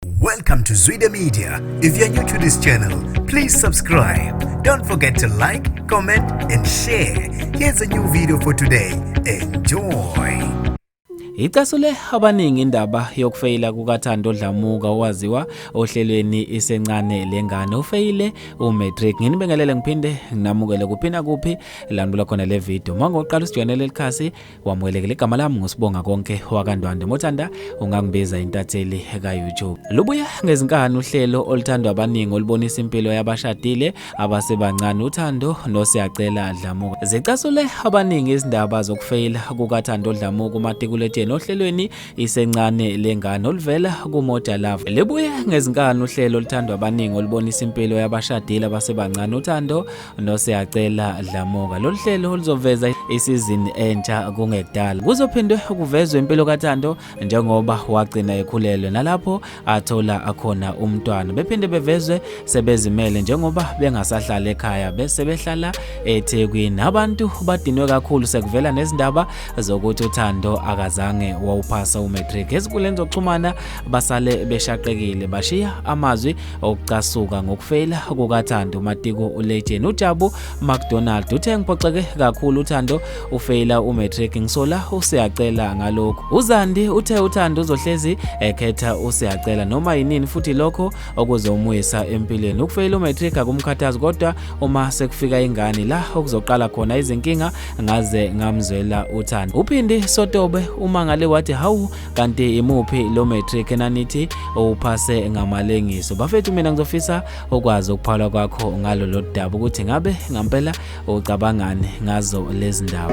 Welcome to Zwide Media. If you're new to this channel, please subscribe. Don't forget to like, comment and share. Here's a new video for today. Enjoy. Icasule abaningi indaba yokufeyila kukaThando Dlamuka owaziwa ohlelweni isencane lengane ufeyile umatric nginibingelele ngiphinde nginamukele kuphina kuphi landula khona le video mangoqala usijoyinele likhasi wamwelekela igama lami ngusibonga konke wakandwande mothanda ungangibiza intatheli ka-youtube lubuya ngezinkani uhlelo oluthandwa abaningi olubonisa impilo yabashadile abasebancane uthando nosiyacela dlamuka zicasule abaningi izindaba zokufeyila kukathando dlamuka umatikuletsheni ohlelweni isencane lengane oluvela kumoja love libuye ngezinkani uhlelo oluthandwa abaningi olubonisa impilo yabashadile abasebancane uthando nosiyacela dlamuka lolu hlelo oluzoveza isizini entsha kungekudala kuzophinde kuvezwe impilo kathando njengoba wagcina ekhulelwe nalapho athola akhona umntwana bephinde bevezwe sebezimele njengoba bengasahlala ekhaya bese behlala ethekwini abantu badinwe kakhulu sekuvela nezindaba zokuthi uthando akazange wawuphasa umatric ezinkundleni zokuxhumana basale beshaqekile bashiya amazwi okucasuka ngokufeyila kukathando umatiko ulegend ujabu macdonald uthe ngiphoxeke kakhulu uthando ufeyila umatric ngisola usiyacela ngalokhu uzandi uthe uthando uzohlezi ekhetha usiyacela noma yinini futhi lokho okuzomwisa empilweni ukufeyila umatric akumkhathazi kodwa uma sekufika ingane la okuzoqala khona izinkinga ngaze ngamzwela uthando uphindi sotobe umangale wathi hawu kanti imuphi lo matric enanithi uphase ngamalengiso bafethu mina ngizofisa ukwazi ukuphala kwakho ngalolu daba ukuthi ngabe ngampela ucabangani ngazo lezi ndawo